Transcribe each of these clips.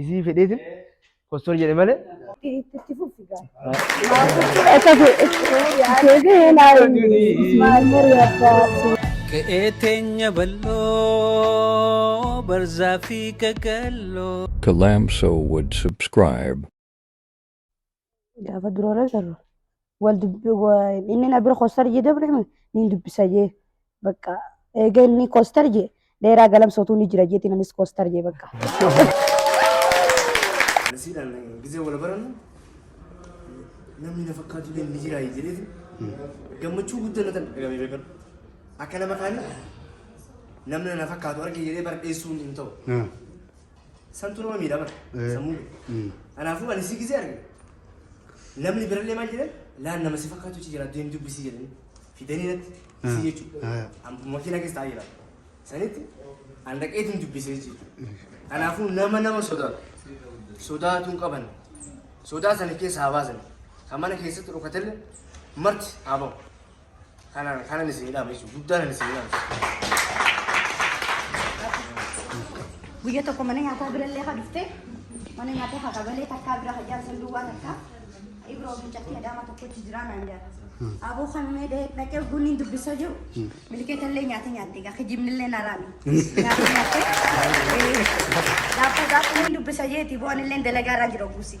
Isii fedheetin postor jedhe malee. Itti fufi gaa. Akka deebi'ee laaluun maal mari'ataa? Qe'ee teenya bal'oo barzaa fi gagalloo. Kalamso would subscribe. gaafa dura wal agarru wal dubbi wa- inni na bira kostar jee dabre niin dubbisa jee bakka eega inni kostar jee dheeraa galamsootuu ni jira jeetiin anis kostar jee bakka. Nasiidhaan gisee wal barannu namni na fakkaatu illee ni jira jedheeti gammachuu guddaa na dhagahame beekadhu. Akka nama kaanii namni na fakkaatu arge jedhee bardheessuun hin ta'u. Santu nama miidha bara. Eh. Sammuu kee. Mm. Kanaafuu ani si gisee arge. Namni birallee maal jedhan laan nama si fakkaatu achi jira deem dubbisii jedhanii fidanii natti Ah. si jechuudha. Ah. An makiina keessa taa'ee jira. Sanitti an dhaqeetiin dubbisee jechuudha. Kanaafuu nama nama sodaatu. Sodaatuun qaban. Sodaa sana keessa haa baasan. Kan mana keessatti dhokatelle marti haa ba'u. Kanan kanan isin dhaama jechuudha. Guddaan ani isin dhaama. Guyya tokko mana nyaataa birallee haa dhufte. Mana nyaataa haa qabalee takkaa bira hajjaan san duwwaa takkaa. Ibroo mucatti adaama tokkotti jiraa naan jaata. Aboo kan mee dee dhaqee bunni hin dubbisa jiru. Milkeetallee nyaata nyaatte gaa kijibnillee naraami. Nyaata nyaatte. Laafuu gaafuu hin dubbisa jeeti bu'anillee dalagaa irraa jira guusi.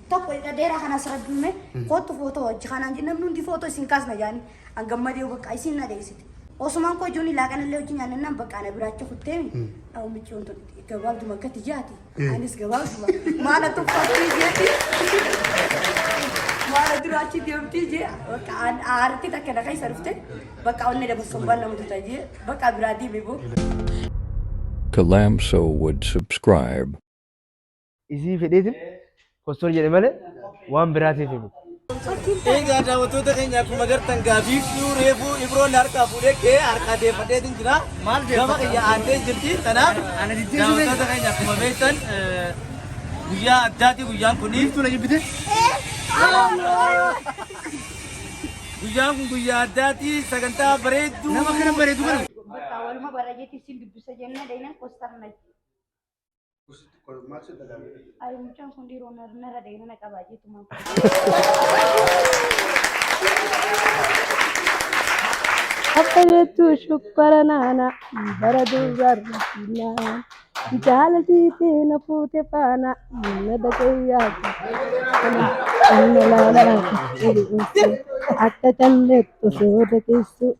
tokko jedha dheeraa kana asirra duume kootu footoo hojji kanaan jedhe namni hundi footoo isin kaasna jaani an gammadee bakka isin na deessite osumaan koo ijoon ilaa kanallee hojji nyaannannaan bakka ana biraacha kutteemi dhawu micciyoon tun gabaabduma akkatti jaati anis gabaabduma maala tuffatti jeeti maala duraachi deemti jee bakka aarti takka na keessa dhufte bakka onnee dabarsuun waan nama tuta jee bakka biraa deeme boo. Kalamso would subscribe. isii fedheetiin postor jedhe malee waan biraatiif himu. Egaa daawwattoota keenya akkuma gartan gaafiif dhiyuu reefuu ibroon harkaa fuudhee kee harkaa deeffadheetiin jira. Maal Gama kiyya aantee jirti. Kanaaf daawwattoota keenya akkuma beektan eh, guyyaa addaati guyyaan kun. Tula jibbite. Guyyaan kun guyyaa addaati sagantaa bareedduu. Nama kana bareedu kana. Bakka waluma bara jeetti isin dubbisa jennee deenan kostarna. Ayi mucaan kun dhiiroo nar- narra deemee na qabaa jeetumaan. Akka jettu shubbara naana bara dubarra finaa jaalati teena fuute faana na dhagayyaa akka kalleettu sooda keessu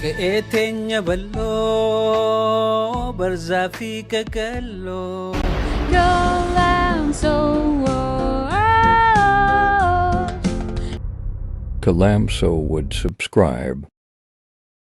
Qe'ee teenya bal'oo barzaa fi qaqalloo. No land so warm. Kalamso would subscribe.